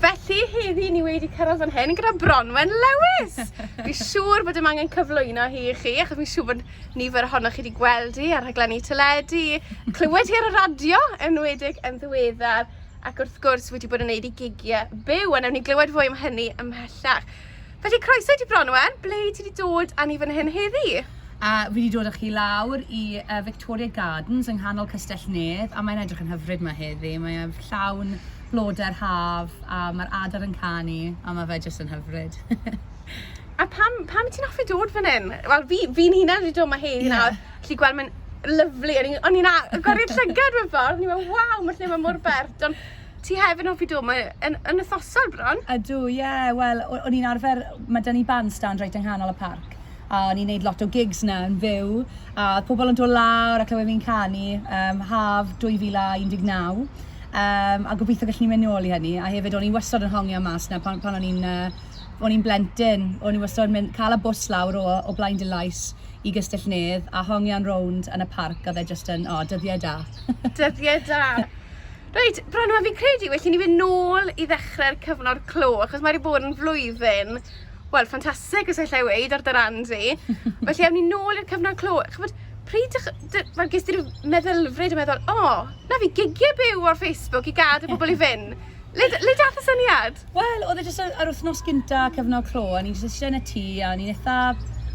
Felly, heddi ni wedi cyrraedd fan hyn gyda Bronwen Lewis. Fi siŵr bod dim angen cyflwyno hi i chi, achos fi siŵr bod nifer ohonoch chi wedi gweld hi ar rhaglenni teledu, clywed hi ar y radio, enwedig yn ddiweddar, ac wrth gwrs wedi bod yn neud i gigiau byw, a newn ni glywed fwy am hynny ymhellach. Felly croeso i ti Bronwen, ble ti wedi dod â ni fan hyn heddi? A fi wedi dod â chi lawr i uh, Victoria Gardens yng nghanol Castell Nedd a mae'n edrych yn hyfryd yma heddi. Mae e'n llawn blodau'r haf a mae'r adar yn canu a mae fe jyst yn hyfryd. a pam, pam ti'n hoffi dod fan hyn? Wel, fi'n fi, fi hunan wedi dod yma heddi yeah. nawr. Lli gweld mae'n lyflu. O'n i'n a... Gwari'r llygad mewn ffordd. O'n i'n meddwl, waw, mae'r lle yma mor bert. Ond Ti hefyd yn hoffi dod 'ma yn yn wythnosol bron? Ydw, ie, wel, o- o'n i'n arfer... Mae 'da ni bandstand reit yng nghanol y parc, a o'n i'n neud lot o gigs 'na yn fyw, a o'dd pobol yn dod lawr a clywed fi'n canu, yym, haf 2019, yym, a gobitho gallwn ni mynd nôl i hynny, a hefyd o'n i wastod yn hongian mas 'na pan pan o'n i'n yy o'n i'n blentyn, o'n i wastod yn mynd ca'l y bws lawr o o Blaen Dulais i Gystell-nedd, a hongian rownd yn y parc, a o'dd e jyst yn, o, dyddie da. Dyddie da. Reit, Branwen, fi'n credu well i ni fynd nôl i ddechrau'r cyfnod clo, achos mae wedi bod yn flwyddyn, wel, ffantastig, os allai weid, ar dy ran di. Felly, awn ni nôl i'r cyfnod clo. Chybod, pryd, fel, ges ti rhyw meddylfryd yn meddwl, o, oh, na fi gigiau byw ar Facebook i gad y bobl i fynd. Le, le dath y syniad? Wel, oedd e jyst yr wythnos gynta cyfnod clo, a o'n i jyst eistedd yn y tŷ, a o'n i'n eitha...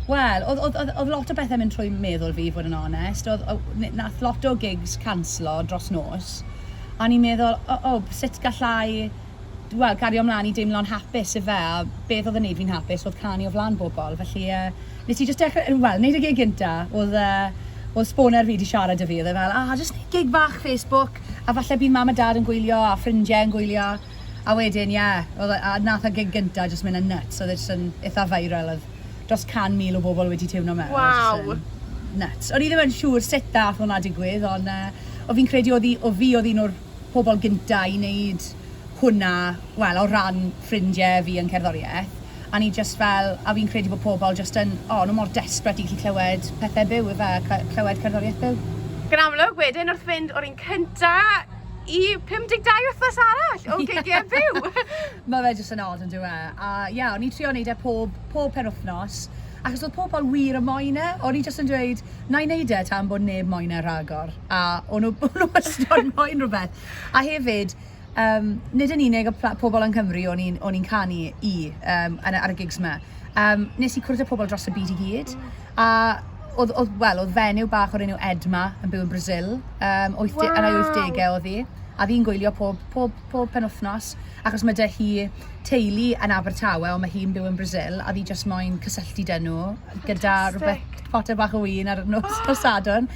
Wel, oedd oedd oedd oedd lot o bethau'n mynd trwy meddwl fi, i fod yn onest. Oedd o- n- wnaeth lot o gigs canslo dros nos, a o'n i'n meddwl, o o, sut galla i, wel, gario mlaen i deimlo'n hapus ife, a beth oedd yn wneud fi'n hapus oedd canu o flaen bobl. Felly, yy, wnes i jyst dechrau, wel, wneud y gig gynta, oedd, yy, oedd sboner fi 'di siarad 'da fi, oedd e fel, 'O, jyst wneud gig fach Facebook, a falle bydd Mam a Dad yn gwylio, a ffrindiau yn gwylio. A wedyn ie, oedd e... a nath y gig gynta jyst mynd yn nyts, oedd e jyst yn itha viral, oedd dros can mil o bobl wedi tiwno mewn, oedd e jyst yn... Waw! ...nyts. O'n i ddim yn siŵr sut ddath hwnna digwydd, ond yy o fi'n credu oedd 'i... oedd fi oedd un o'r pobl gynta i neud hwnna, wel, o ran ffrindie fi yn cerddorieth, a o'n i jyst fel... a fi'n credu bod pobl jyst yn... o, o'n nhw mor desperate i gallu clywed pethe byw ife, a clywed cerddorieth byw. Yn amlwg wedyn wrth fynd o'r un cynta i 52 wythnos arall o gigiau byw. Mae fe jyst yn odd yn dweud. E? A ia, yeah, o'n i'n trio wneud e pob, pob pen wythnos, achos oedd pobl wir y moen e. O'n i jyst yn dweud, na i wneud e tan bod neb moen e rhagor. A o'n nhw, o'n nhw ystod moen rhywbeth. A hefyd, um, nid yn unig y pobl yng Nghymru o'n i'n canu i um, ar y gigs yma. Um, nes i cwrdd â pobl dros y byd i gyd. A oedd, oedd, wel, oedd fenyw bach o'r enw Edma yn byw yn Brazil. Um, 80, wow. Yn ei 80au oedd hi. A fi'n gwylio pob, pob, pob penwthnos, achos mae dy hi teulu yn Abertawe, ond mae hi'n byw yn Brazil, a fi jyst moyn cysylltu dyn nhw, gyda rhywbeth potter bach o wyn ar nos, oh. nos Sadwrn.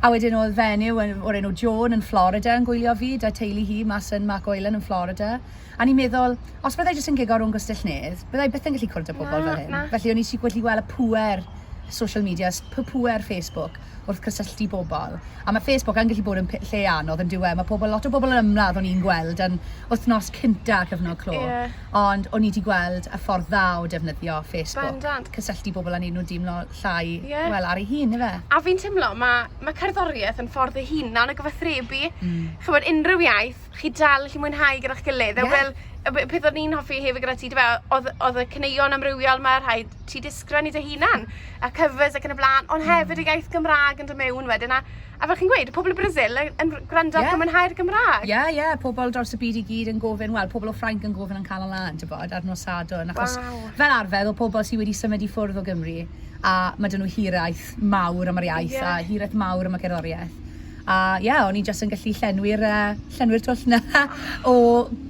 A wedyn oedd fenyw o'r enw Joan yn Florida yn gwylio fi, da teulu hi mas yn Mark Oilen yn Florida. A o'n i'n meddwl, os byddai jyst yn gigo rownd Gwestyll Nedd, byddai byth yn gallu cwrdd â pobl fel hyn. Felly o'n i jyst wedi gweld y pŵer social media, pŵer Facebook wrth cysylltu bobl. A mae Facebook yn gallu bod yn lle anodd yn diwedd. Mae pobl, lot o bobl yn ymladd o'n i'n gweld yn wythnos cynta cyfnod clo. Yeah. Ond o'n i wedi gweld y ffordd dda o defnyddio Facebook. Bendant. Cysylltu bobl a neud nhw dimlo llai, yeah. wel, ar ei hun, efe. A fi'n timlo, mae ma cerddoriaeth yn ffordd ei hunan o gyfathrebu. Mm. Chymod, unrhyw iaith, chi dal allu mwynhau gyda'ch gilydd. Yeah. Wel, y b- peth o'n i'n hoffi hefyd gyda ti, dyfe, oedd oedd y cyneuon amrywiol mae rhai ti disgren i dy hunan, a covers ac yn y blaen, ond hefyd y iaith Gymraeg yn dod mewn wedyn, a, a fel chi'n gweud, y pobl o Brasil yn, yn gwrando ac Ie. yn mwynhau'r Gymraeg. Ie, ie, pobl dros y byd i gyd yn gofyn, wel, pobl o Ffrainc yn gofyn yn Canol Lan, ti'n bod, ar nos Sadwrn, achos Waw. fel arfer, o pobl sydd wedi symud i ffwrdd o Gymru, a mae dyn nhw hiraeth mawr am yr iaith, Ie. a hiraeth mawr am y cerddoriaeth. A ie, o'n i jyst yn gallu llenwi'r yy llenwi'r twll 'na o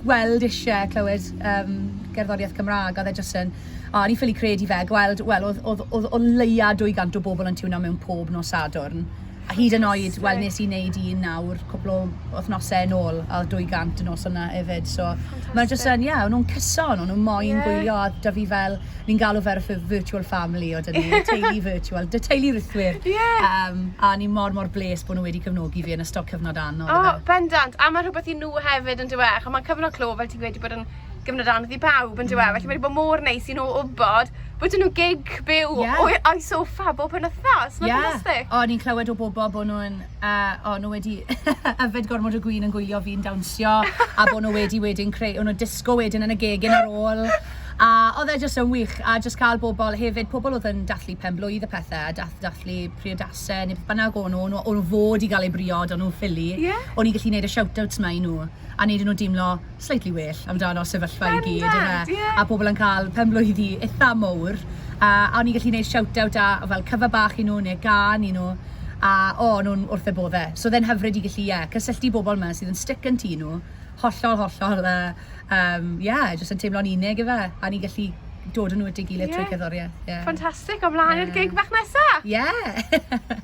gweld isie clywed yym gerddoriaeth Cymra'g a o'dd e jyst yn o o'n i ffili credu fe gweld wel o'dd o'dd o'dd o leia dwy gant o bobol yn tiwno mewn pob nos Sadwrn a hyd yn oed... Fantastic. ...wel nes i neud un nawr cwpwl o wthnose yn ôl a o'dd dwy gant y nos yna efyd so... Fantastic. ...ma' jyst yn ie o'n nw'n cyson o'n nw moyn... Ie. ...gwylio a 'dy fi fel ni'n galw fe ar y ffurf virtual family o dyn ni, teulu virtual, dy teulu rithwyr. Ie. Yeah. Um, a ni mor mor bles bod nhw wedi cefnogi fi yn ystod cyfnod anodd. O, oh, bendant. A mae rhywbeth i nhw hefyd yn diwech. Ond mae cyfnod clo, fel ti'n gweud, wedi bod yn gyfnod anodd i bawb yn diwedd. Mm. Felly mae wedi bod mor neis i nhw wybod bod nhw gig byw yeah. o'i sofa bob yn wythnos. Mae'n yeah. ffantastig. O, ni'n clywed o bobl bod nhw'n a o'n nhw wedi yfed gormod o gwin yn gwylio fi'n dawnsio, a bod nhw wedi wedyn creu, o'n nhw'n disgo wedyn yn y gegin ar ôl. A oedd e jyst yn wych, a jyst cael bobl hefyd, pobl oedd yn dathlu pen blwydd y pethau, a dath, dathlu priodasau neu beth bynnag o'n nhw, o'n nhw fod i gael eu briod, o'n nhw'n ffili. Yeah. O'n i'n gallu gwneud y shout-outs ma i nhw, a wneud nhw deimlo, slightly well amdano sefyllfa i gyd yfe a pobl yn cael penblwyddi eitha mowr a o'n i'n gallu gwneud shout-out a fel cyfa bach i nhw neu gan i nhw a o, o'n nhw'n wrth eu bodde. So oedd e'n hyfryd i gallu, ie, cysylltu bobl yma sydd yn stick yn tŷ nhw, hollol, hollol, yy, yym, ie, jyst yn teimlo'n unig ife, a ni'n gallu dod yn nhw at ei gilydd trwy cerddoriaeth, ie. Ffantastig, o flaen i'r gig bach nesa! Ie!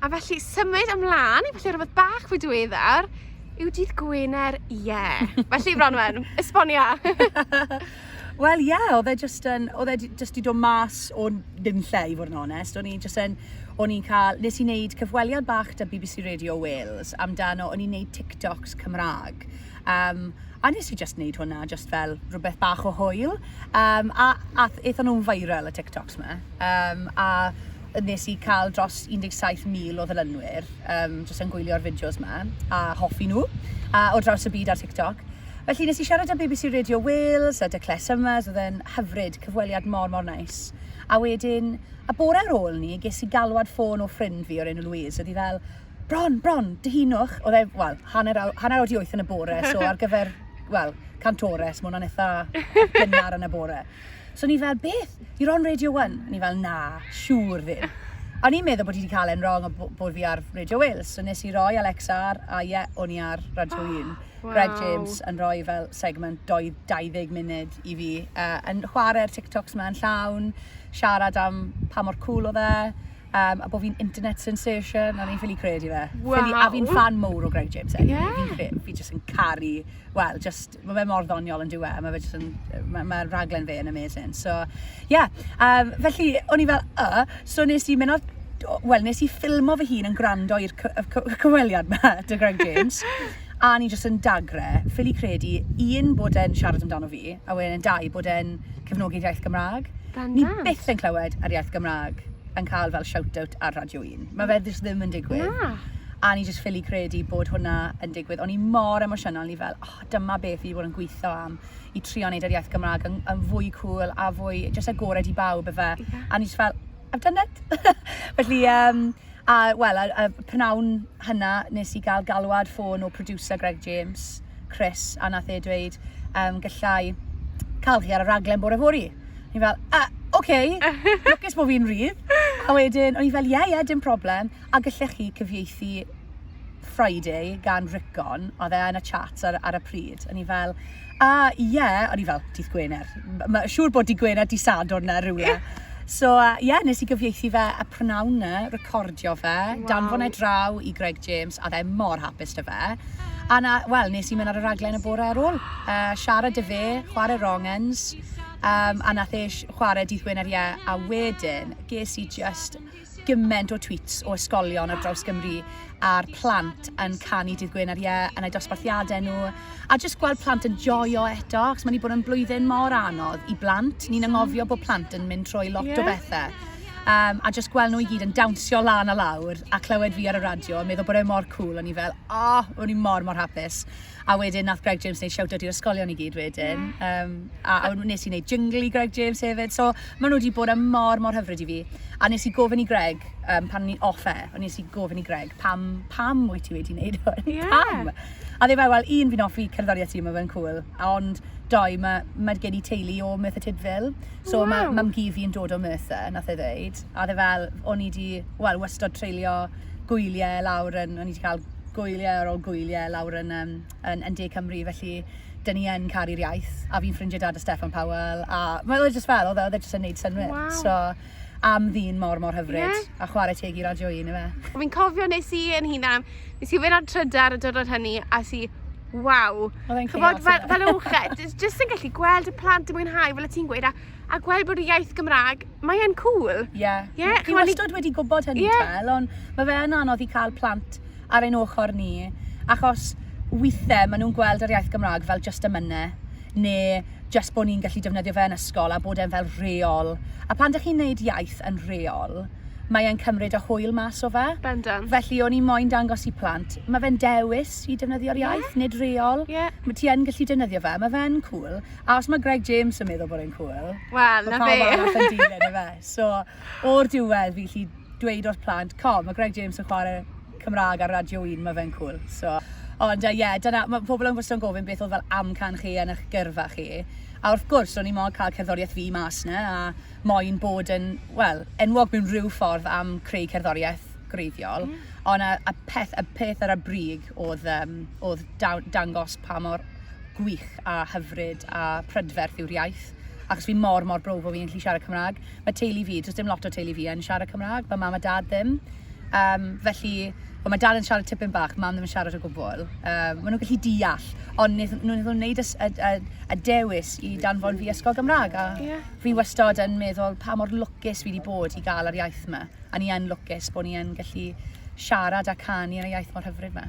A felly symud ymlaen i felly rhywbeth bach fwy diweddar yw dydd Gwener ie. Yeah. felly Bronwen, esbonia. Wel ie, yeah, oedd e jyst yn, oedd e jyst i dod mas o ddim lle i fod yn onest. O'n i jyst yn, o'n i'n cael, nes i wneud cyfweliad bach da BBC Radio Wales amdano, o'n i'n wneud TikToks Cymraeg. Um, a nes i jyst wneud hwnna, jyst fel rhywbeth bach o hwyl. Um, a, a eithon nhw'n viral y TikToks ma. Um, a wnes i cael dros 17,000 o ddilynwyr um, jyst yn gwylio'r fideos ma a hoffi nhw a o draws y byd ar TikTok. Felly nes i siarad â BBC Radio Wales a dy Claire Summers, oedd e'n hyfryd, cyfweliad mor mor nais. A wedyn, a bore ar ôl ni, ges i galwad ffôn o ffrind fi o'r enw Louise, oedd hi fel, bron, bron, dyhunwch, oedd e, wel, hanner, hanner oed i wyth yn y bore, so ar gyfer, wel, cantores, mae hwnna'n eitha gynnar yn y bore. So ni fel, beth? You're on Radio 1? Ni fel, na, siŵr ddim. O'n i'n meddwl bod i wedi cael e'n wrong a bod fi ar Radio Wales. So nes i roi Alexa ar, a ie, yeah, o'n i ar Radio 1. Oh, wow. Greg James yn rhoi fel segment 20 munud i fi. Uh, yn chwarae'r TikToks yma yn llawn, siarad am pa mor cool o dde, um, a bod fi'n internet sensation, a ni'n ffili credu fe. Wow. Ffili, a fi'n fan mowr o Greg James. Anyway. Yeah. Fi, fi jyst yn caru, well, just Mae fe mor ddoniol yn diwe, mae fe jyst yn, mae'r ma raglen fe yn amazing. So, ie, yeah. um, felly, o'n i fel, y, so nes i mynd o'r wel, nes i ffilmo fy hun yn gwrando i'r cyfweliad yma, dy Greg James, a ni jyst yn dagre, ffili credu, un bod e'n siarad amdano fi, a wedyn yn dau bod e'n cefnogi'r iaith Gymraeg. Ni byth yn clywed ar iaith Gymraeg yn cael fel shout-out ar Radio 1. Mae fe ddim yn digwydd. Na. A ni jyst ffili credu bod hwnna yn digwydd. O'n i mor emosiynol, ni fel, oh, dyma beth fi wedi bod yn gweithio am i trio wneud yr iaith Gymraeg yn, yn fwy cool a fwy jyst agored i bawb efe. Yeah. A ni jyst fel, I've done it! Felly, um, a wel, a, a prynawn hynna nes i gael galwad ffôn o producer Greg James, Chris, a nath e dweud, um, gallai cael chi ar y raglen bore fori. Ni fel, uh, oce, okay. lwcus bod fi'n rhydd. A wedyn, o'n i fel, ie, yeah, ie, yeah, dim problem. A gallech chi cyfieithu Friday gan Rickon, oedd e yn y chat ar, ar y pryd. O'n i fel, a ie, yeah. o'n i fel, dydd Gwener. Mae siŵr bod dydd Gwener, dydd Sadwrn na rhywle. So, ie, uh, yeah, nes i gyfieithu fe y prynawn na, recordio fe, wow. danfon e draw i Greg James, a dde mor hapus dy fe. A na, wel, nes i mynd ar y raglen y bore ar ôl. Uh, siarad dy fe, chwarae wrong ends, um, a nath e chwarae dydd Gwener ie, a wedyn ges i just gymaint o tweets o ysgolion ar draws Gymru a'r plant yn canu Dydd Gwener Ie yn eu dosbarthiadau nhw a jyst gweld plant yn joio eto achos mae wedi bod yn blwyddyn mor anodd i blant. Ni'n anghofio bod plant yn mynd trwy lot yeah. o bethau. Um, a jyst gweld nhw i gyd yn dawnsio lan a lawr a clywed fi ar y radio a meddwl bod e mor cool o'n i fel, oh, o'n i mor mor hapus. A wedyn nath Greg James neud shout out i'r ysgolion i gyd wedyn. Ie. Yym a a w- nes i neud jingle i Greg James hefyd so ma' nw 'di bod yn mor mor hyfryd i fi. A nes i gofyn i Greg yym pan o'n i off air o nes i gofyn i Greg pam pam wyt ti wedi neud hwn? Ie. Pam? A o'dd e fel wel un fi'n offi cerddorieth ti ma' fe'n cŵl a ond dou ma' ma' gen i teulu o Merthyr Tydfil so ma'... Waw. ...mam-gu fi'n dod o Merthyr nath e ddeud a o'dd e fel o'n i 'di wel wastod treulio gwylie lawr yn, o'n i wedi cael gwylie ar ôl gwylie lawr yn, um, yn, yn De Cymru, felly dyn ni yn caru'r iaith, a fi'n ffrindiau dad y Steffan Powell, a mae oedd e jyst fel, oedd e, e jyst yn neud synwyr. Wow. So, am ddyn mor, mor hyfryd, yeah. a chwarae teg i radio un, efe. Fi'n cofio nes i yn hunan, nes i fynd ar trydar y dyrod hynny, a si, waw. Oedd e'n chaos. Chybod, fel, fel uwched, jyst yn gallu gweld y plant yn mwynhau, fel y ti'n gweud, a a gweld bod y iaith Gymraeg, mae e'n cool. Ie. Yeah. Ie, yeah, chimod... Fi wastad wedi gwybod hynny, yeah. Tel, ond mae fe yn anodd i cael plant ar ein ochr ni, achos weithiau maen nhw'n gweld yr iaith Gymraeg fel just y mynau, neu just bod ni'n gallu defnyddio fe yn ysgol a bod e'n fel reol. A pan ydych chi'n neud iaith yn reol, mae e'n cymryd y hwyl mas o fe. Bendant. Felly o'n i moyn dangos i plant, mae fe'n dewis i defnyddio'r iaith, yeah. nid reol. Yeah. Mae ti yn gallu defnyddio fe, mae fe'n cool. A os mae Greg James yn meddwl bod e'n cŵl, well, mae pawb arall yn dilyn y fe. So, o'r diwedd, fi lli dweud o'r plant, co, mae Greg James yn chwarae Cymraeg ar Radio 1, mae fe'n cwl. So, ond ie, yeah, dyna, mae pobl yn gwestiwn gofyn beth oedd fel amcan chi yn eich gyrfa chi. A wrth gwrs, o'n i mo'n cael cerddoriaeth fi mas na, a moyn bod yn, wel, enwog mewn rhyw ffordd am creu cerddoriaeth greiddiol. Mm. Ond a, a peth, y peth ar y brig oedd, um, oedd dangos pa mor gwych a hyfryd a prydferth yw'r iaith achos fi mor mor brwf o fi'n gallu siarad Cymraeg. Mae teulu fi, does dim lot o teulu fi yn siarad Cymraeg, mae mam a dad ddim. Um, felly, well, mae dad yn siarad tipyn bach, mam ddim yn siarad o gwbl. Um, maen nhw'n gallu deall, ond wnaeth nhw'n gwneud y, y, y, y dewis i danfon fi ysgol Gymraeg. A yeah. fi wastad yn meddwl pa mor lwcus fi wedi bod i gael yr iaith yma. A ni yn lwcus bod ni yn gallu siarad a canu yn y iaith mor hyfryd yma.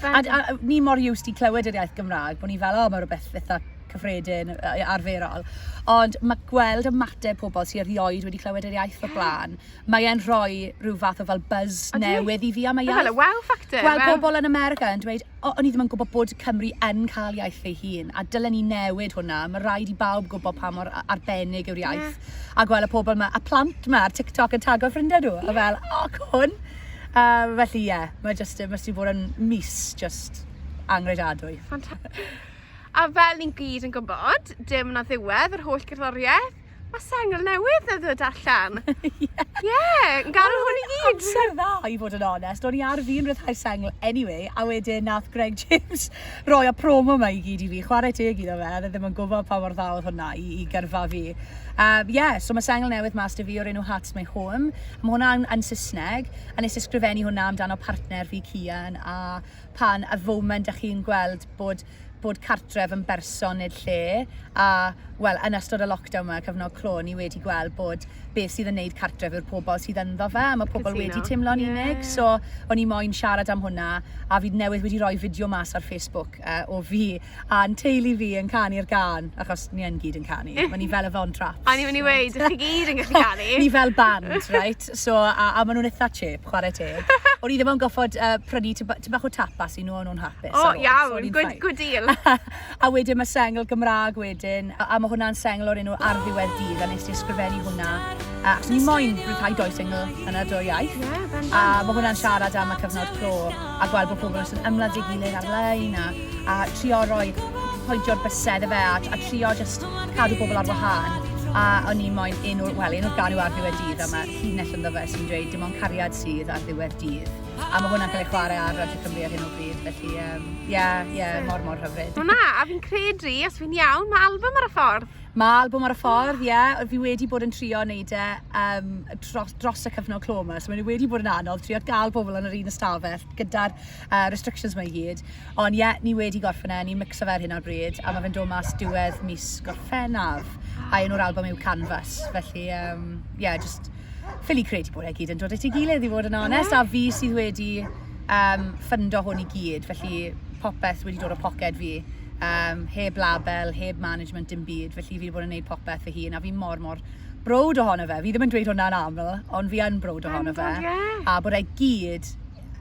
A, a, a ni mor used i clywed yr iaith Gymraeg, bod ni fel, o, oh, mae rhywbeth eitha cyffredin, arferol. Ond mae gweld y mateb pobl sy'n erioed wedi clywed yr iaith o blaen, mae e'n rhoi rhyw fath o fel buzz o newydd i fi am y iaith. Fel y wow factor. Gweld well. pobl yn America yn dweud, o, o'n i ddim yn gwybod bod Cymru yn cael iaith ei hun, a dylen ni newid hwnna. Mae rhaid i bawb gwybod pa mor arbennig yw'r iaith. Yeah. A gweld y pobl yma, a plant yma ar TikTok yn tago ffrindiau nhw, yeah. a fel, o, oh, cwn. Um, felly, ie, yeah, mae jyst, mae jyst bod yn mis jyst angredadwy. Fantastic. A fel ni'n gyd yn gwybod, dim na ddiwedd yr holl gerddoriaeth, mae sengl newydd na ddod allan. Ie. yeah. yeah, yn gael hwn i gyd. Amser dda, i fod yn onest. O'n i ar fi'n rhyddhau sengl anyway, a wedyn nath Greg James roi a promo yma i gyd i fi. Chwarae teg iddo fe, ddim yn gwybod pa mor dda oedd hwnna i, i gyrfa fi. Um, yeah, so mae sengl newydd mas dy fi o'r enw Hearts My Home. Mae hwnna yn, yn Saesneg, a nes i sgrifennu hwnna amdano partner fi Cian, a pan y foment ych chi'n gweld bod bod cartref yn berson nid lle, a wel, yn ystod y lockdown yma, cyfnod clo, ni wedi gweld bod beth sydd yn neud cartref yw'r pobl sydd ynddo fe, a mae pobl Casino. wedi teimlo'n yeah. unig, so o'n i moyn siarad am hwnna, a fi newydd wedi rhoi fideo mas ar Facebook uh, o fi A'n teulu fi yn canu'r gân, achos ni yn gyd yn canu. Mae ni fel y Von Trapps. O'n i'n mynd i weud, dych chi gyd yn gallu canu. Ni fel band, reit? So, a, a maen nhw'n eitha chip, chwarae teg. O'n i ddim yn goffod uh, prynu tib bach o tapas i nhw, o'n nhw'n hapus. O, oh, iawn, so good, good deal. a wedyn mae sengl Gymraeg wedyn, a, a mae hwnna'n sengl o'r enw Ar ddiwedd dydd, a nes i ysgrifennu hwnna. Uh, achos ni moyn rhywbeth doi sengl yn y dwy iaith. Yeah, a mae hwnna'n siarad am y cyfnod clo. a gweld bod pobl jyst yn ymladd deu gilydd ar-lein a a trio roi pointio'r bysedd ife a a trio jyst cadw pobl ar wahân a o'n i moyn un o'r wel un o'r ganu ar ddiwedd dydd a mae llinell ynddo fe sy'n dweud dim ond cariad sydd ar ddiwedd dydd a mae hwnna'n cael ei chwarae ar Radio Cymru ar hyn o bryd felly ie um, ie yeah, yeah, mor mor hyfryd. Wel na, a fi'n credu, os fi'n iawn, mae album ar y ffordd. Mae albwm ar y ffordd, ie. Fi wedi bod yn trio wneud e um, dros, dros y cyfnod clo yma, so mae wedi bod yn anodd trio gael pobl yn yr un ystafell gyda'r uh, restrictions mae i gyd. Ond ie, yeah, ni wedi gorffen e, ni'n mixo fe ar hyn ar bryd, a mae fe'n dod mas diwedd mis gorffennaf. A un o'r album yw Canvas, felly, ie, um, yeah, just ffili credu bod e gyd yn dod at ei gilydd i fod yn onest, a fi sydd wedi um, ffundo hwn i gyd, felly popeth wedi dod o poced fi. um, heb label, heb management, dim byd, felly fi wedi bod yn gwneud popeth fy hun, a fi mor, mor brod ohono fe. Fi ddim yn dweud hwnna'n aml, ond fi yn brod ohono fe. Yeah. A bod e gyd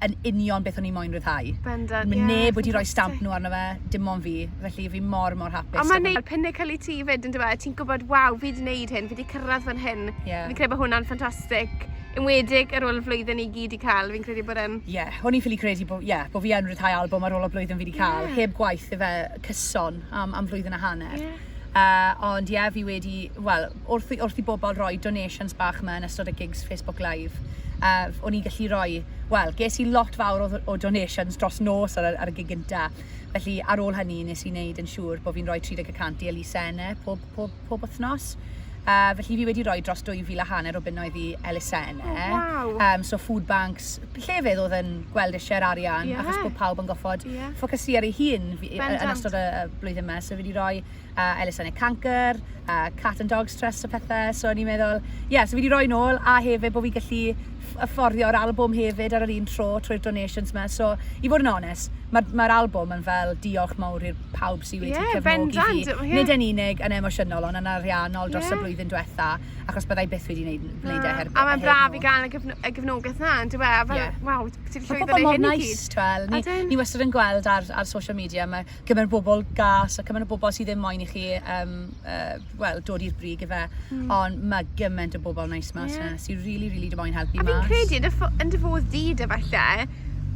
yn union beth o'n i'n moyn rhyddhau. Bendant, Mae yeah, neb wedi rhoi stamp nhw arno fe, dim ond fi. Felly fi mor, mor hapus. Ond mae'n neud pinnacle i ti fyd yn dweud, ti'n gwybod, waw, fi wedi gwneud hyn, fi wedi cyrraedd fan hyn. Yeah. Fi'n credu bod hwnna'n ffantastig. Enwedig ar ôl y flwyddyn i gyd i cael, fi'n credu bod e'n... Ie, yeah, o'n i'n ffili credu bod, yeah, bod fi yn rhyddhau albwm ar ôl y blwyddyn fi wedi cael, yeah. heb gwaith efe cyson am, am flwyddyn a hanner. Yeah. Uh, ond ie, yeah, fi wedi, wel, wrth, wrth i bobl roi donations bach yma yn ystod y gigs Facebook Live, uh, o'n i'n gallu roi, wel, ges i lot fawr o, o donations dros nos ar, ar y gig gynta. Felly, ar ôl hynny, nes i wneud yn siŵr bod fi'n rhoi 30 y cant i Elisa Ene pob pob, pob wythnos. Uh, felly fi wedi rhoi dros 2,000 a hanner o bunnoedd i elusen e. Oh, wow. um, so food banks, llefydd oedd yn gweld eisiau'r arian, yeah. achos bod pawb yn goffod yeah. ffocysu ar ei hun fi, yn ystod y, y blwyddyn yma. So fi wedi rhoi uh, elusennau canker, uh, cat and dogs trust a pethau. So o'n i'n meddwl, ie, yeah, so fi wedi rhoi nôl, a hefyd bod fi gallu fforddio'r albwm hefyd ar yr un tro trwy'r donations 'ma. So, i fod yn onest, mae'r ma albwm yn fel diolch mawr i'r pawb sydd wedi yeah, cefnogi fi. Yeah. Nid yn unig yn emosiynol, ond yn ariannol dros yeah. y blwyddyn diwetha, achos byddai byth wedi gwneud, gwneud no. e her, A mae'n braf i gael y, gefn y gefnogaeth na, yn dweud, a fel, yeah. waw, ti'n llwyddo neu hyn i gyd. Nice, twel, ni, ni wastad yn gweld ar, ar social media, mae cymaint o bobl gas a cymaint o bobl sydd ddim moyn i chi um, uh, well, dod i'r brig i fe. Mm. Ond mae gymaint o bobl nice mas yeah. na sy'n really, really dim moyn helpu mas. A fi'n credu yn dy fodd di dy falle,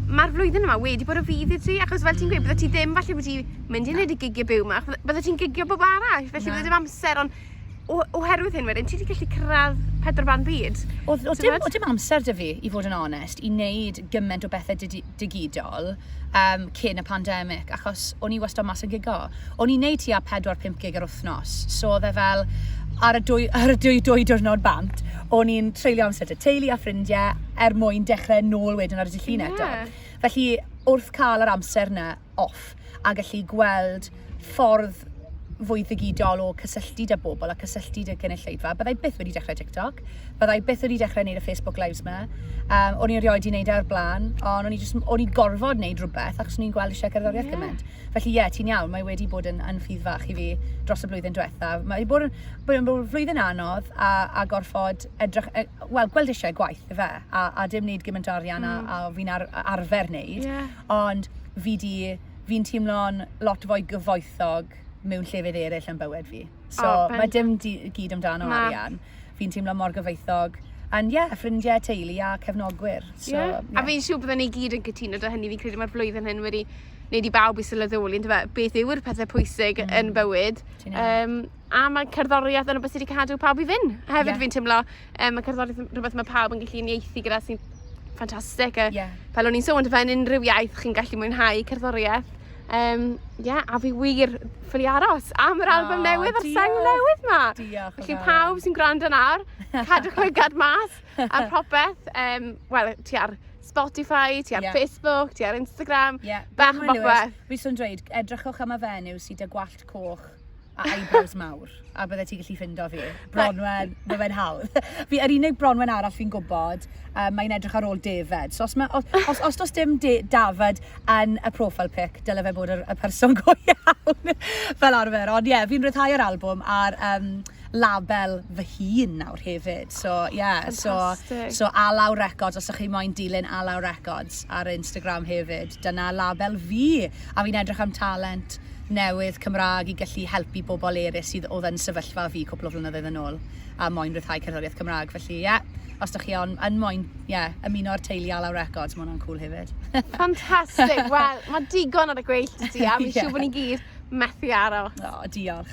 mae'r flwyddyn yma wedi bod o fydd i ti, achos fel ti'n mm. gweud, bydde ti ddim falle wedi mynd i wneud y gigiau byw yma, bydde ti'n gigio bob arall, felly bydde dim amser, ond o, oherwydd hyn wedyn, ti wedi gallu cyrraedd pedwar ban byd. O, o, dim, o dim amser dy fi, i fod yn onest, i wneud gymaint o bethau digidol um, cyn y pandemig, achos o'n i wastad mas yn gigo. O'n i'n neud tua 4-5 gig yr wythnos, so oedd e fel, ar y dwy, ar y dwy, dwy diwrnod bant, o'n i'n treulio amser dy teulu a ffrindiau er mwyn dechrau nôl wedyn ar y dillun yeah. eto. Felly, wrth cael yr amser yna, off a gallu gweld ffordd fwy ddigidol o cysylltu da bobl a cysylltu da gynulleidfa. Byddai byth wedi dechrau TikTok, byddai byth wedi dechrau wneud y Facebook Lives ma. Um, o'n i erioed wedi wneud e o'r blaen, ond o'n i, just, o'n i gorfod wneud rhywbeth achos o'n i'n gweld eisiau cerddoriaeth yeah. gymaint. Felly ie, yeah, ti'n iawn, mae wedi bod yn, yn ffydd fach i fi dros y blwyddyn diwetha. Mae wedi bod yn, bod yn flwyddyn anodd a, a gorfod edrych, e, wel, gweld eisiau gwaith, fe, a, a dim wneud gymaint o arian mm. a, a fi'n ar, arfer wneud. Yeah. ond fi 'di... fi'n teimlo'n lot fwy gyfoethog mewn llefydd eraill yn bywyd fi. So, oh, ben... mae dim di, gyd amdano Na. arian. Fi'n teimlo mor gyfoethog. And ie, yeah, ffrindiau, teulu a cefnogwyr. So, yeah. Yeah. A fi'n siŵr byddwn ni gyd yn cytuno da hynny. Fi'n credu mae'r flwyddyn hyn wedi wneud i bawb i sylweddoli yn dweud beth yw'r pethau pwysig mm. yn bywyd. Um, a mae cerddoriaeth yn y beth sydd wedi cadw pawb i fyn. Hefyd yeah. fi'n teimlo Um, mae cerddoriaeth yn rhywbeth mae pawb yn gallu unieithu gyda sy'n ffantastig. Yeah. Fel o'n i'n sôn, fe'n unrhyw iaith chi'n gallu mwynhau cerddoriaeth. Um, yeah, a fi wir ffili aros am yr album oh, newydd a'r sang newydd ma. Diolch. Felly pawb sy'n gwrando nawr, cadwch lygad mas a popeth. Um, Wel, ti ar Spotify, ti ar yeah. Facebook, ti ar Instagram, yeah. bach o bobeth. Fi swn dweud, edrychwch am y fenyw sydd â gwallt coch a eyebrows mawr, a bydde ti'n gallu ffindo fi. Bronwen, mae fe'n hawdd. Fi, yr unig Bronwen arall fi'n gwybod, um, mae'n edrych ar ôl David. So os, ma, os, os, os does dim De David yn y profile pic, dyle fe bod y, y person go iawn fel arfer. Ond ie, yeah, fi'n rhyddhau yr album a'r um, label fy hun nawr hefyd. So ie, yeah, so, so Alaw Records, os ydych chi moyn dilyn Alaw Records ar Instagram hefyd, dyna label fi. a fi'n edrych am talent newydd Cymraeg i gallu helpu pobl erys sydd odd yn sefyllfa fi cwpl o flynyddoedd yn ôl a moyn rhyddhau cerddoriaeth Cymraeg felly ie os dych chi on- yn moyn ie ymuno â'r teulu Alaw Records ma' hwnna'n cwl hefyd. Fantastic! Wel, ma' digon ar y gweill 'da ti a fi'n siŵr bo ni gyd methu aros. O, diolch.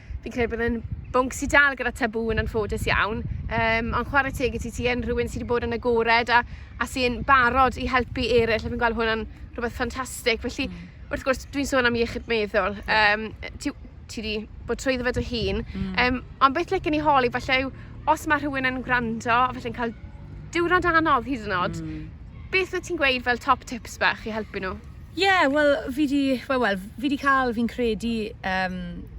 Fi'n credu bod yn bwnc sydd dal gyda tabŵ yn anffodus iawn, um, ond chwarae teg i ti, ti yn rhywun sydd wedi bod yn agored a, a sy'n barod i helpu eraill, a fi'n gweld hwnna'n rhywbeth ffantastig. Felly, mm. wrth gwrs, dwi'n sôn am iechyd meddwl. Um, ti, ti wedi bod trwy ddefa dy hun. Mm. Um, ond beth lecyn i holi, falle yw, os mae rhywun yn gwrando, a falle'n cael diwrnod anodd hyd yn oed, mm. beth wyt ti'n gweud fel top tips bach i helpu nhw? Ie, wel fi 'di, wel wel fi 'di ca'l fi'n credu yym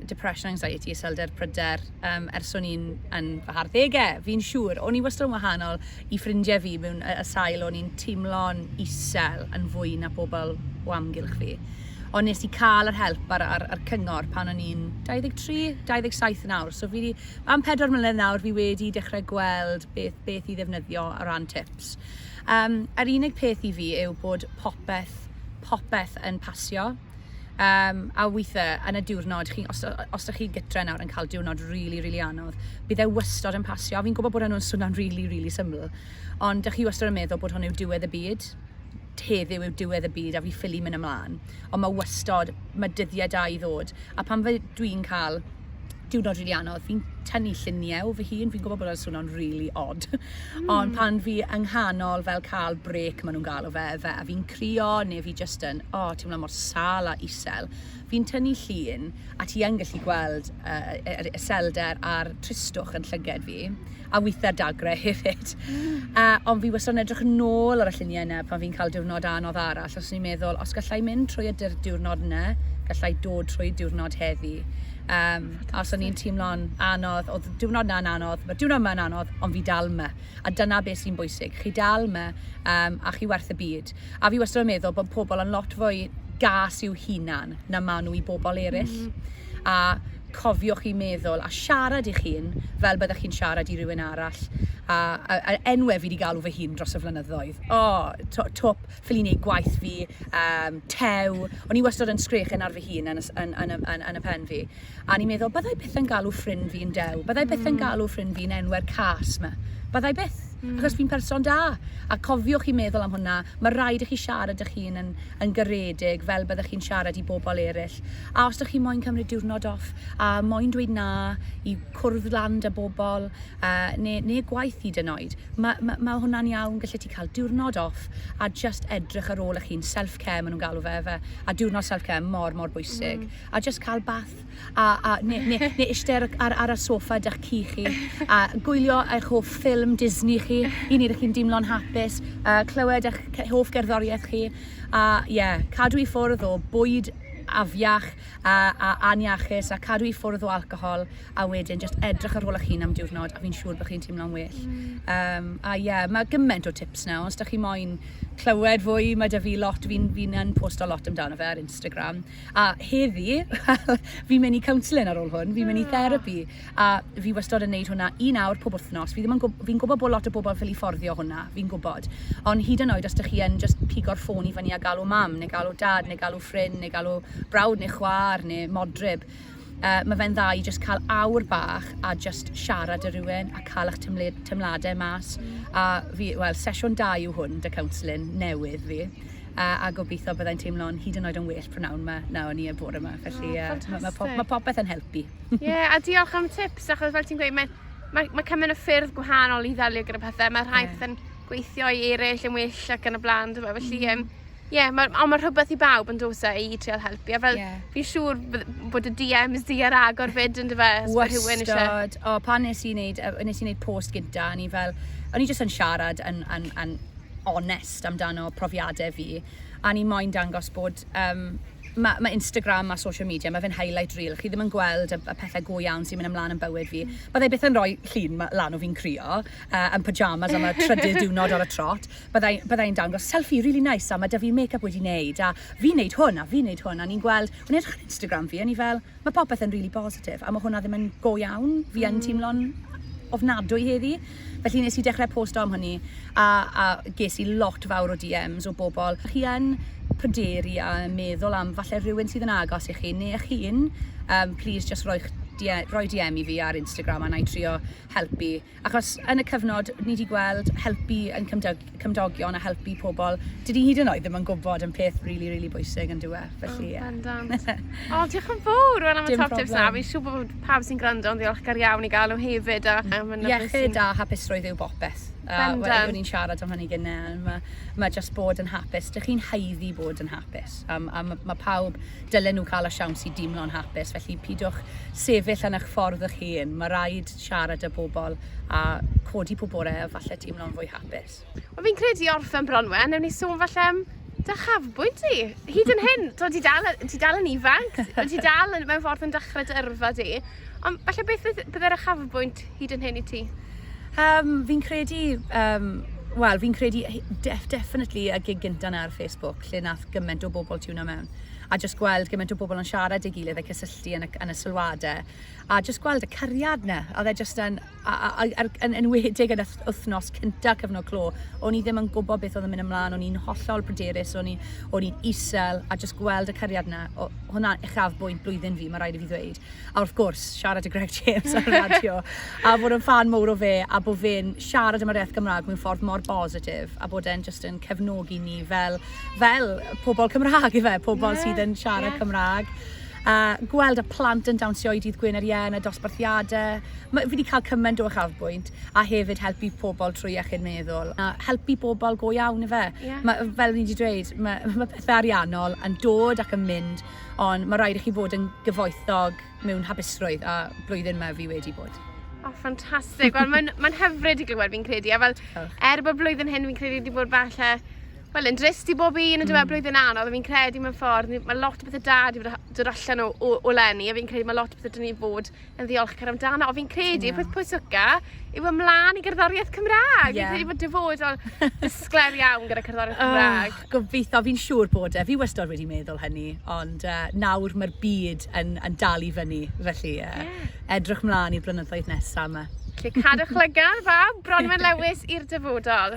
depression, anxiety, iselder, pryder yym ers o'n i'n yn fy harddege fi'n siŵr. O'n i wastad yn wahanol i ffrindie fi mewn yy y sail o'n i'n timlo'n isel yn fwy na pobol o amgylch fi. Ond nes i ca'l yr help a'r a'r a'r cyngor pan o'n i'n 23, 27 nawr so fi 'di am pedwar mlynedd nawr fi wedi dechre gweld beth beth i ddefnyddio o ran tips. Yym, yr unig peth i fi yw bod popeth, popeth yn pasio. Yym, a withe, yn y diwrnod, chi, os, os da chi gytre nawr yn cael diwrnod rili, rili anodd, bydd e wastod yn pasio. Fi'n gwybod bod hwnnw'n swnio'n rili, rili syml, ond da chi wastod yn meddwl bod hwn yw diwedd y byd. Heddiw yw diwedd y byd a fi ffili mynd ymlaen. Ond mae wastod, mae dyddiau da i ddod. A pan fe, dwi'n cael diwrnod rili anodd, fi'n tynnu lluniau o fy hun, fi'n gwybod bod o'n swno'n rili od, ond pan fi yng nghanol fel cael brêc ma' nhw'n galw fe, fe a fi'n crio neu fi jyst yn, o, teimlo mor sâl a isel, fi'n tynnu llun a ti yn gallu gweld yy y y y selder a'r tristwch yn llyged fi. a weithiau dagrau hefyd. A, ond fi wastad yn edrych yn ôl ar y lluniau yna pan fi'n cael diwrnod anodd arall, os o'n i'n meddwl, os gallai mynd trwy y diwrnod yna, gallai dod trwy diwrnod heddi. Um, a os o'n i'n teimlo'n anodd, oedd diwrnod na'n anodd, mae diwrnod yma'n anodd, ond fi dal yma. A dyna beth sy'n bwysig, chi dal yma um, a chi werth y byd. A fi wastad yn meddwl bod pobl yn lot fwy gas i'w hunan na maen nhw i bobl eraill. Mm. A cofiwch i meddwl a siarad i'ch hun fel byddech chi'n siarad i rywun arall, a, a, a enwe fi di galw fy hun dros y flynyddoedd. O, to, twp, ffili neud gwaith fi, um, tew, o'n i wastod yn sgrechen ar fy hun yn, yn, yn, yn, yn y pen fi. A ni'n meddwl, byddai byth yn galw ffrind fi yn dew, byddai byth yn hmm. galw ffrind fi yn enwer cas ma, byddai byth. Mm. Achos fi'n person da. A cofiwch i meddwl am hwnna, mae rhaid i chi siarad â chi'n yn, yn garedig fel byddech chi'n siarad i bobl eraill. A os ydych chi moyn cymryd diwrnod off a moyn dweud na i cwrdd lan da bobl uh, neu, neu gwaith hyd yn oed, mae ma, ma hwnna'n iawn, gallu ti cael diwrnod off a just edrych ar ôl eich hun, self-care maen nhw'n galw fe, fe, a diwrnod self-care mor, mor bwysig. Mm. A just cael bath a, a, neu, neu, neu ishte ar, ar, ar y sofa da'ch ci chi, a gwylio eich hoff ffilm Disney chi, i wneud i chi'n dimlo'n hapus, a clywed eich hoff gerddoriaeth chi, a ie, yeah, cadw i ffwrdd o bwyd afiach a, a aniachus a cadw i ffwrdd o alcohol a wedyn just edrych ar ôl eich hun am diwrnod a fi'n siŵr bod chi'n teimlo'n well. Mm. Um, a ie, yeah, mae gymaint o tips na, os da chi moyn clywed fwy, mae da fi lot, fi'n fi yn posto lot amdano fe ar Instagram. A heddi, wel, fi'n mynd i counselling ar ôl hwn, fi'n mynd i therapi, a fi wastod yn neud hwnna un awr pob wythnos. Fi ddim yn gwb- fi'n gwybod bod lot o bobl ffili fforddio hwnna, fi'n gwybod. Ond hyd yn oed os dych chi yn jyst pigo'r ffôn i fyny a galw mam, neu galw dad, neu galw ffrind, neu galw brawd neu chwaer, neu modryb, Yy ma' fe'n dda i jyst ca'l awr bach a jyst siarad â rywun a ca'l 'ych temle- temlade mas. Hmm. A fi wel sesiwn da yw hwn 'da counselling newydd fi yy a gobitho byddai'n teimlo'n hyd yn oed yn well prynawn 'ma na o'n i y bore 'ma felly yy... O ffantastic. ...ma' ma' pob- ma' popeth yn helpu. Ie a diolch am y tips achos fel ti'n gweud mae mae ma' cymaint o ffyrdd gwahanol i ddelio gyda pethe ma' rhai... Ie. ...pethe'n gweithio i eryll yn well ac yn y bla'n dyfe felly yym Ie ma' on' ma' rhwbeth i bawb on'd o's e i i trial helpu a fel... Ie. ...fi'n siŵr bydd bod y Dee Ems di ar agor 'fyd on'd yfe os ma' rhywun isie... Wastad o pan nes i neud yy nes i neud post gynta o'n i fel o'n i jyst yn siarad yn yn yn onest amdano profiade fi a o'n i moyn dangos bod yym ma' ma' Instagram a social media ma' fe'n highlight reel chi ddim yn gweld y y pethe go iawn sy'n myn' ymlan yn bywyd fi. Byddai byth yn roi llun ma- lan o fi'n crio yy yn pyjamas am y trydydd diwrnod ar y trot. Bydda i bydda i'n dangos selfie rili neis a ma' 'da fi make up wedi neud a fi'n neud hwn a fi'n neud hwn a ni'n gweld o'n i'n edrych ar Instagram fi o'n i fel ma' popeth yn rili bositif a ma' hwnna ddim yn go iawn fi yn teimlo'n ofnadwy heddi felly nes i dechre posto am hwnni a a ges i lot fawr o DMs o bobl chi yn pryderu a meddwl am falle rhywun sydd yn agos i chi ne' chi'n yym plîs jyst roi'ch roi DM i fi ar Instagram a nai trio helpu. Achos yn y cyfnod ni 'di gweld helpu ein cymdo- cymdogion a helpu pobl, dyn ni hyd yn oed ddim yn gwybod yn peth rili rili bwysig yndyw e? Felly ie. Bendant. O, diolch yn fawr Wen am y Dim top tips 'na. problem. Fi'n siŵr bod pawb sy'n gwrando yn ddiolchgar iawn i gael nhw hefyd a a ma' 'na beth Iechyd sy'n... a hapusrwydd yw bopeth. A wel, Bendant. o'n i'n siarad am hynny gynne, ma' ma' jyst bod yn hapus, dych chi'n haeddu bod yn hapus, a m- a ma' ma' pawb dylen nhw cael y siawns i deimlo'n hapus, felly pidwch sefyll yn eich ffordd 'ych hun, ma' raid siarad â bobl a codi pob bore a falle teimlo'n fwy hapus. Wel fi'n credu i orffen Bronwen, newn ni sôn falle am dy chafbwynt di. Hyd yn hyn, to ti dal, ti dal yn ifanc, ti dal yn, mewn ffordd yn dechrau dy yrfa di. Ond falle beth bydde'r achafbwynt hyd yn hyn i ti? Um, fi'n credu, um, wel, fi'n credu def, definitely y gig gynta na ar Facebook, lle nath gymaint o bobl tiwna mewn. A just gweld gymaint o bobl yn siarad ei gilydd a cysylltu yn y, yn y sylwadau. a jyst gweld y cariad 'na, a oedd e jyst yn... a, a, a, a'r, yn enwedig yn y wythnos cynta cyfnod clo, o'n i ddim yn gwybod beth oedd yn mynd ymlaen, o'n i'n hollol bryderus, o'n i'n o'n i'n isel, a jyst gweld y cariad yna, o, hwnna uchafbwynt blwyddyn fi, mae rhaid i fi ddweud. A wrth gwrs, siarad y Greg James ar y radio, a bod yn fan mowr o fe, a bod fe'n siarad am yr iaith Gymraeg mewn ffordd mor bositif, a bod e'n jyst yn cefnogi ni fel, fel pobl Cymraeg, ife, pobl yeah, sydd yn siarad yeah. Cymraeg. A gweld y plant yn dawnsio i Dydd Gwyn yr Ien a dosbarthiade. Ma- fi 'di ca'l cyment o uchafbwynt, a hefyd helpu pobl trwy iechyd meddwl, a helpu bobl go iawn yfe? Ie. Ma' yy fel fi 'di dweud ma' ma' pethe ariannol yn dod ac yn mynd on' ma' raid i chi fod yn gyfoethog mewn hapusrwydd a blwyddyn 'ma fi wedi bod. O ffantastig. Wel ma'n ma'n hyfryd i glywed fi'n credu a fel... Diolch. ...er bo' blwyddyn hyn fi'n credu 'di bod falle Wel yn drist i bob un yndyw e hmm. blwyddyn anodd a fi'n credu mewn ffordd mae lot o bethau da wedi bod yn dod allan o, o, o lenni a fi'n credu mae lot o bethau dyn ni fod yn ddiolchgar amdano a fi'n credu yeah. peth pwysica yw ymlaen i gerddoriaeth Cymraeg. Yeah. Fi'n credu bod dyfodol ddisglair iawn gyda cerddoriaeth oh, Cymraeg. Oh, gobeithio, fi'n siŵr bod e. Fi wastad wedi meddwl hynny, ond uh, nawr mae'r byd yn, yn dal i fyny, felly uh, yeah. edrych mlaen i'r blynyddoedd nesaf yma. Felly cadwch lygar, fab, Bronwen Lewis i'r dyfodol.